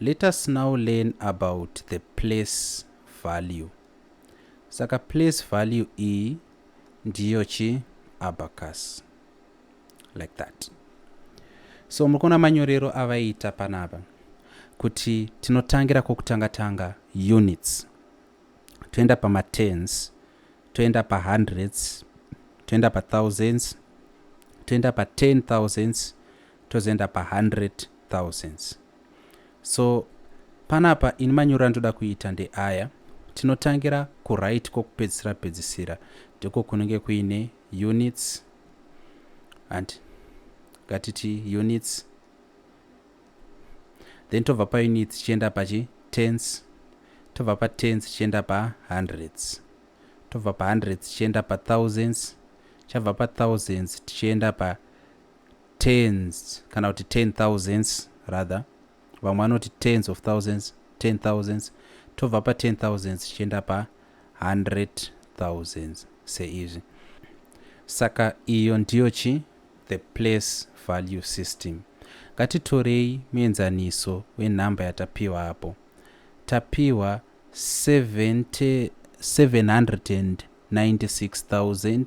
Let us now learn about the place value. Saka place value iyi ndiyo chi abacus like that. So muri kuona manyorero avaita panapa kuti tinotangira kwokutanga tanga units toenda pamatens toenda pahundreds toenda pathousands toenda paten thousands tozoenda pahundred thousands so panapa ini manyoro andoda kuita ndeaya tinotangira kuright kwokupedzisira pedzisira ndiko kunenge kuine units and ngatiti units then tobva paunits tichienda pachi tens tobva patens tichienda pahundreds tobva pahundreds tichienda pathousands chabva pathousands tichienda pa tens kana kuti ten thousands rather vamwe vanoti tens of thousands ten thousands tobva pa ten thousands tichienda pa hundred thousands seizvi saka iyo ndiyo chi the place value system ngatitorei muenzaniso wenhamba yatapiwa apo tapiwa 796,000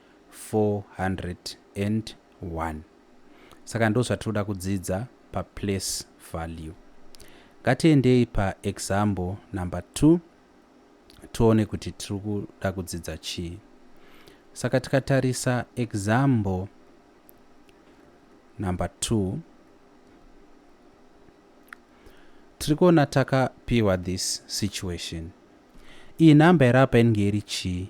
401 saka ndozvatinoda kudzidza pa place value. Ngatiendei pa example number 2 tione kuti tiri kuda kudzidza chii. Saka tikatarisa example number 2 tiri kuona takapiwa this situation. Iyi number iri apa inenge iri chii?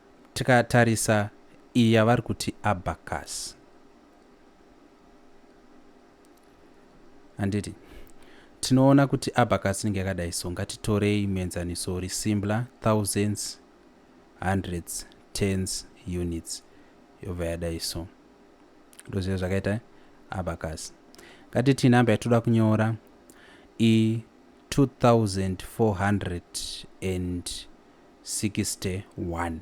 Tikatarisa iyi yavari kuti abacus handiti tinoona kuti abacus inenge yakadai so ngatitorei muenzaniso uri simbla thousands hundreds tens units yobva yadai so ndozviya zvakaita abacus ngatitii namba yatoda kunyora i 2400 and 61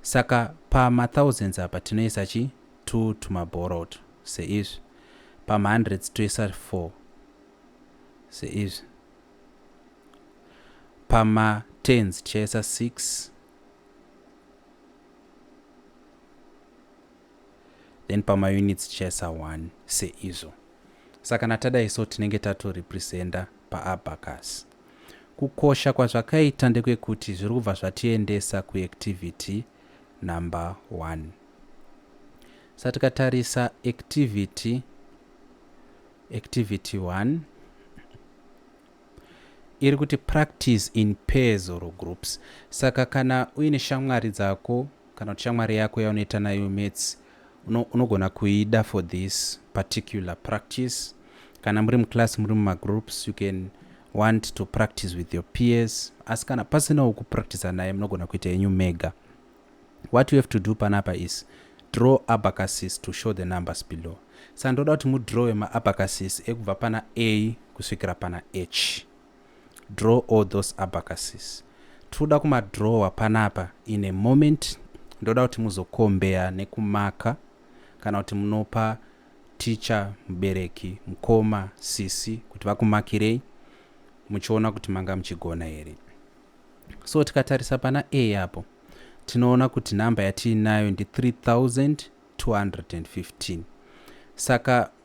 saka pama thousands apa tinoisa chi two tuma borrowed seizvi pama hundreds toisa four seizvi pama tens tichaisa six then pama units tichaisa one seizvo saka natadaiso tinenge tato representa paabacus Kukosha kwazvakaita ndekwekuti zviri kubva zvatiendesa kuactivity number one. Sa tikatarisa activity, activity one, iri kuti practice in pairs or groups. Saka kana uine shamwari dzako kana kuti shamwari yako yaunoita nayo maths Uno, unogona kuida for this particular practice. Kana muri muclass muri mumagroups you can want to practice with your peers asi kana pasinawo kupractisa naye munogona kuita yenyu mega what you have to do panapa is draw abacasis to show the numbers below sa ndoda kuti mudrowe maabacasis ekubva pana a kusvikira pana h Draw all those abacuses. Tirikuda kuma drawer panapa in a moment ndoda kuti muzokombeya nekumaka kana kuti munopa ticha mubereki mukoma sisi kuti vakumakirei muchiona kuti manga muchigona here so tikatarisa pana a apo tinoona kuti nhamba yatiinayo ndi 3215 saka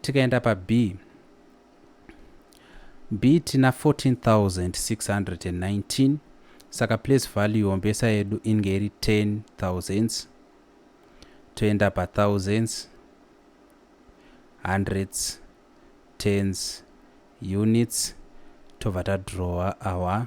tikaenda pa B B tina 14619 saka place value yombesa yedu inge iri 10 thousands toenda pa thousands hundreds tens units tobva tadrawa our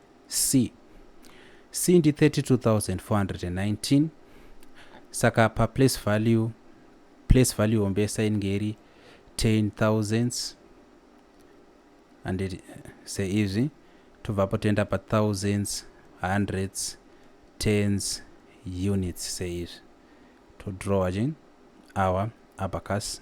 C. C ndi 32419 saka pa place value place value hombesa inenge iri 10000 and it, seizvi tobvapo toenda pa thousands hundreds tens units seizvi todrawa chin awa abacus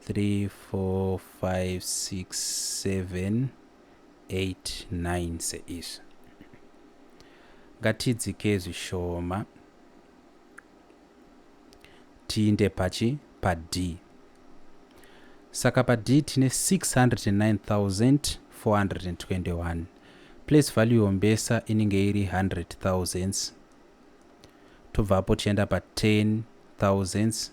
three four five six seven eight nine seizvi ngatidzike zvishoma tiinde pachi pad saka pad tine 609421 place value yombesa inenge iri 100 thousands tobvapo tienda pa 10 thousands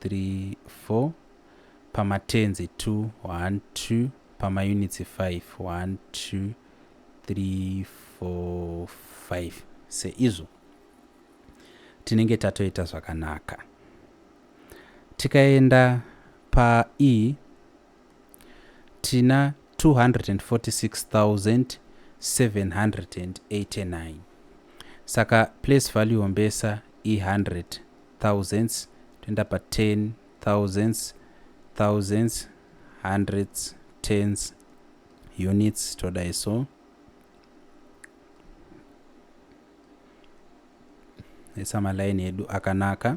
three four pamatenzi two one two pamaunitsi five one two three four five seizvo tinenge tatoita zvakanaka tikaenda pae tina 246789 saka place value mbesa i hundreds thousands toenda pa ten thousands thousands hundreds tens units todai so esa malaini edu akanaka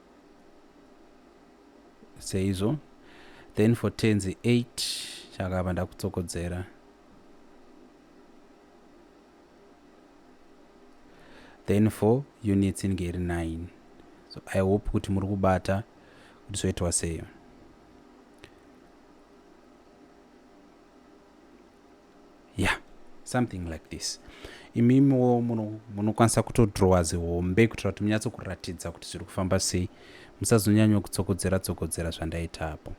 seizvo then for tenzi 8 chakabva ndakutsokodzera then for units inge iri 9 so i hope kuti muri kubata kuti zvoitwa seyo yeah something like this imimiwo munokwanisa muno kutodrowa zihombe kuitira kuti munyatso kuratidza kuti zviri kufamba sei musazonyanywa kutsokodzera tsokodzera zvandaita apo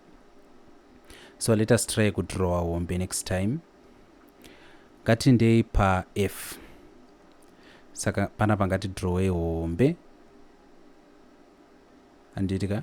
so let us try kudrowa hombe next time ngatindei paf saka pana pangati drowe hombe anditi ka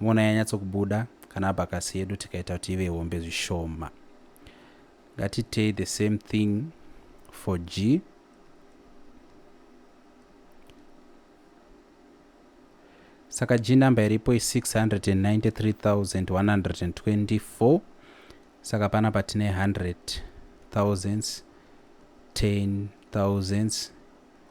Moona yanyatsokubuda kana abhakasi yedu tikaita kuti ive hombe zvishoma. Ngatiitei the same thing for G. Saka G number iripo i 693,124 saka pana patine 100 thousands 10 thousands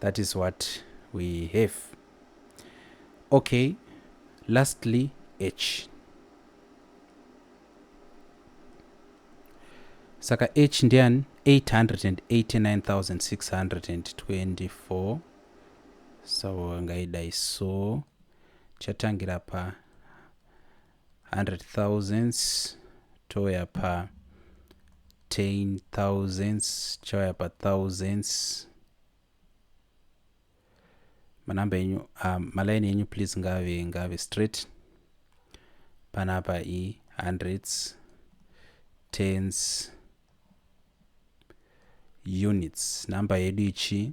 That is what we have. Okay, lastly, H. Saka H ndian 889,624. So ngaidai so chatangira pa 100 thousands touya pa 10 thousands chauya pa thousands manamba enyu uh, malaini enyu please ngave ngave straight panapa i hundreds tens units number yedu ichi